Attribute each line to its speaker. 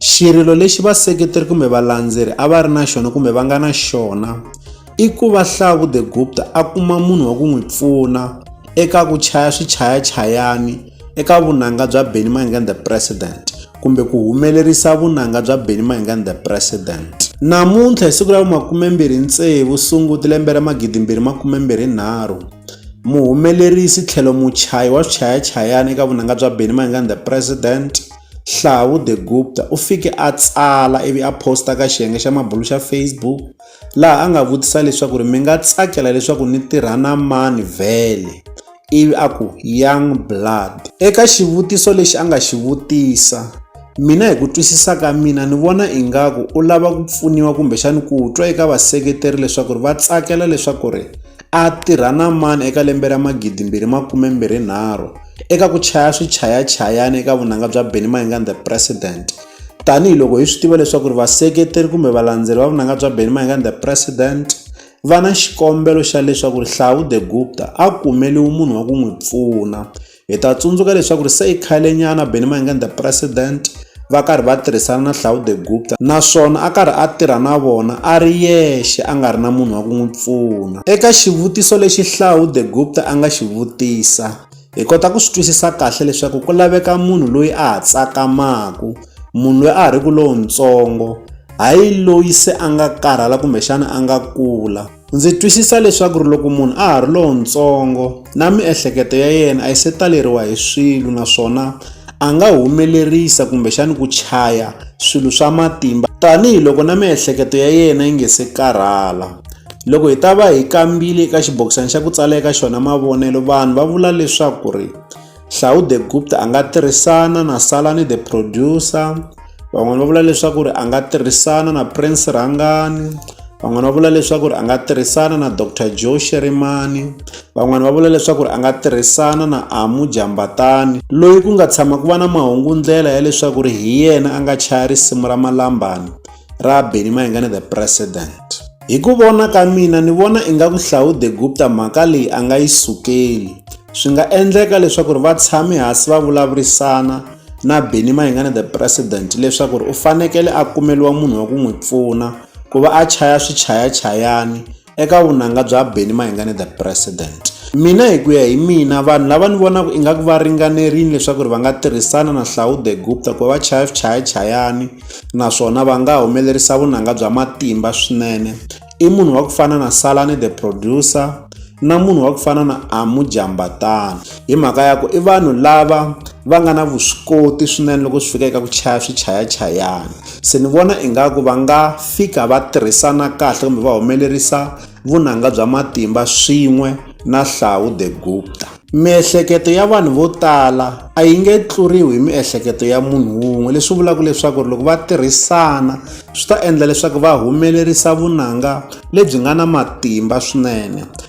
Speaker 1: Xirilo lexi vaseketeri kumbe valandzeri a va ri na xona kumbe va nga na xona i ku va Hlavu the Gupta a kuma munhu wa ku n'wi pfuna eka ku chaya swichayachayani eka vunanga bya Benny Mayengani the President kumbe ku humelerisa vunanga bya Benny Mayengani the President. Namuntlha hi siku ra makumembirhi tsevu Sunguti lembe ra magidimbirhi makumembirhi nharhu muhumelerisi tlhelo muchayi wa swichayachayani eka vunanga bya Benny Mayengani the President Hlawu de Gupta u fike a tsala ivi a posta ka xiyenge xa mabulu xa Facebook laha a nga vutisa leswaku ri mi nga tsakela leswaku ni tirha na mani vhele ivi a ku young blood eka xivutiso lexi a nga xi vutisa mina hi ku twisisa ka mina ni vona ingaku u lava ku pfuniwa kumbexani ku twa eka vaseketeri leswaku ri va tsakela leswaku ri a tirha na mani eka lembe ra magidi mbirhi makume mbirhi nharhu eka ku chaya swichayachayani eka vunanga bya Benny Mayengani the President tanihiloko hi swi tiva leswaku ri vaseketeri kumbe valandzeri va vunanga bya Benny Mayengani the President va na xikombelo xa leswaku rihlawu the gupta a kumeliwi munhu wa ku n'wi pfuna hi ta tsundzuka leswaku ri se i khalenyana benimanganda president va karhi va tirhisana na Hlawude de Gupta naswona a karhi a tirha na vona a ri yexe a nga ri na munhu wa ku n'wi pfuna. Eka xivutiso lexi Hlawude de Gupta a nga xi vutisa, hi kota ku swi twisisa kahle leswaku ku laveka munhu loyi a ha tsakamaku, munhu loyi a ha ri ku lontsongo, hayi loyi se a nga karhala kumbexana a nga kula. Ndzi twisisa leswaku ri loko munhu a ha ri lowutsongo na miehleketo ya yena a yi se taleriwa hi swilo naswona a nga humelerisa kumbexani ku chaya swilo swa matimba tanihiloko na miehleketo ya yena yi nge se karhala loko hi ta va hi kambile eka xibokisana xa ku tsala eka xona mavonelo vanhu va vula leswaku ri Hlawu de Gupta a nga tirhisana na Salani the Producer, van'wana va vula leswaku ri a nga tirhisana na Prince Rhangani, van'wana va vula leswaku ri a nga tirhisana na Doctor Joe Shirimani, van'wana va vula leswaku ri a nga tirhisana na Amu Jambatani loyi ku nga tshama ku va na mahungu-ndlela ya leswaku ri hi yena a nga chaya risimu ra Malambani. ra Benny Mayengani the President. Hi ku vona ka mina ni vona ingaku Hlaude Gupta mhaka leyi a nga yi sukeli. Swi nga endleka leswaku ri va tshame hansi va vulavurisana na Benny Mayengani the President leswaku ri u fanekele a kumeliwa munhu wa ku n'wi pfuna ku va a chaya swichayachayani eka vunanga bya Benny Mayengani the president mina hi ku ya hi mina vanhu lava ni vonaka ingaku va ringanerile leswaku ri va nga tirhisana na Hlaude Gupta ku va va chaya swichayachayani naswona va nga humelerisa vunanga bya matimba swinene i munhu wa ku fana na Salani the producer na munhu wa ku fana na Amu Jambatana hi mhaka ya ku i vanhu lava va nga na vuswikoti swinene loko swi fika eka ku chaya swichayachayana se ni vona ingaku va nga fika va tirhisana kahle kumbe va humelerisa vunanga bya matimba swin'we na hlawu the gupta miehleketo ya vanhu vo tala a yi nge tluriwi hi miehleketo ya munhu wun'we leswi vulaka leswaku ri loko va tirhisana swi ta endla leswaku va humelerisa vunanga lebyi nga na matimba swinene